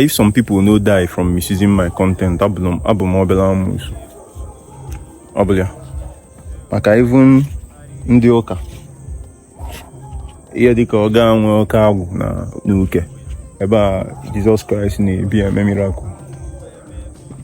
If some people no die from misusing my content, abụ m obele amusu. Obele ya. Maka even ndị ụka ihe dịka ọ ga-enwe oke agwụ na uke ebe a Jizọs Kraịst na-ebi eme miracle.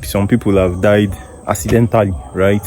Some people have died accidentally, right?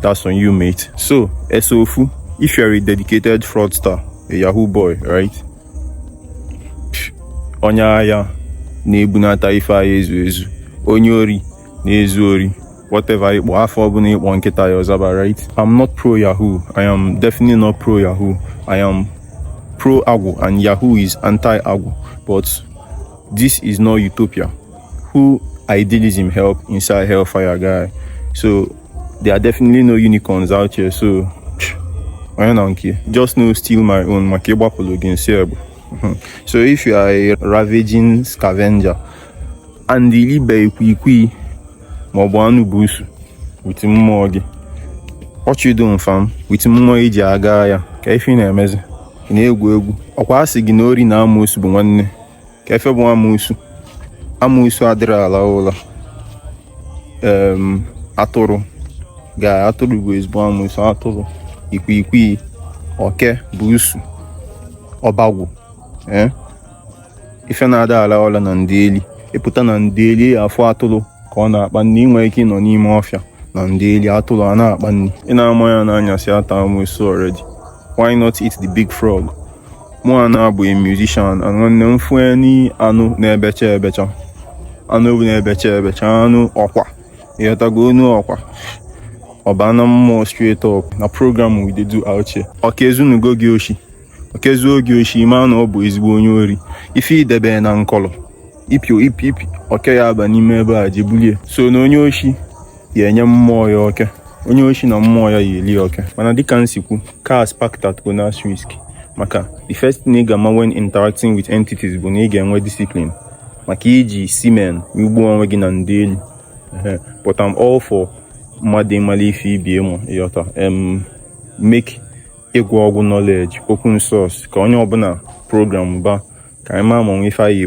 That's on you, mate. So, Esofu, if you're a dedicated fraudster, a Yahoo boy, right? Onye agha na-ebunata ife agha ezu ezu, onye ori na-ezu ori, whatever ị kpọ afa ọbụna ị kpọ nkịta ya ọ zaba, right? I'm not pro Yahoo. I am definitely not pro Yahoo. I am pro Agwụ and Yahoo is anti Agwụ. But this is not utopia. who idealism help inside hellfire guy so there are definitely no unicorns out here so onye na nke just no steal my own maka ịgbapụlụ gị nsi egbe hmm. so if you are a ravaging scavenger and i libe ikwikwii maọbụ anụ bụ ụsụ with mmụọ gị ọchịdo m fam with mmụọ i ji aga ya ka ife na-emezi ị na-egwu egwu ọ kwa a sị gị na ori na amoosu bụ nwanne ka efe bụ amusu amusu adịrọ ala ụla atụrụ ga atụrụ bụ ezigbo amusu atụrụ ikwiikwii oke bụ ụsụ ọbagwụ eh? ife na-ada ala ụla na ndeli ị pụta na ndeli afụ atụrụ ka ọ na-akpa nni i nwe ike ịnọ n'ime ọfịa na ndeli atụrụ a na-akpa nni ị na-ama ya n'anyasị ata amusu already why not eat the big frog mụwa na-abụ musician nwanne m fụ any anụ na-ebecha ebecha anụ ewu na-ebecha ebecha anụ ọkwa ị ghọtago onu ọkwa ọ baa na mmụọ straight up na program we dey do out here oke ezunugo gị oshi oke ezuo gị oshi ma na ọ bụ ezigbo onye ori ife i debe na nkọlọ ipi oke ya-aba n'ime ebe a je bulie so na onye oshi ya enye mmụọ ya oke onye oshi na mmụọ ya ya-eli oke mana dịka m si kwu cars parked at owners risk maka the first thing ị ga-ama when interacting with entities bụ na ị ga-enwe discipline maka iji semen egbu onwe gị na ndeli but I'm all for mmadụ ịmalụ ife ibe ya ma ị ghọta em make ịgwọ ọgwụ knowledge open source ka onye ọbụna programba ka anyị maa ma o nwe ife anyị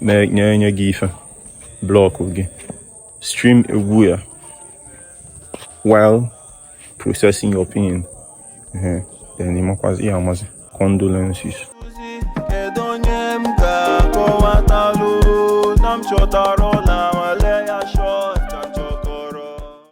na-enye gị ife blockụọ gị stream egwu ya while processing your pain then ị makwazị ya amazi condolences kedu onye m ga-akọwatalụ na m chọtara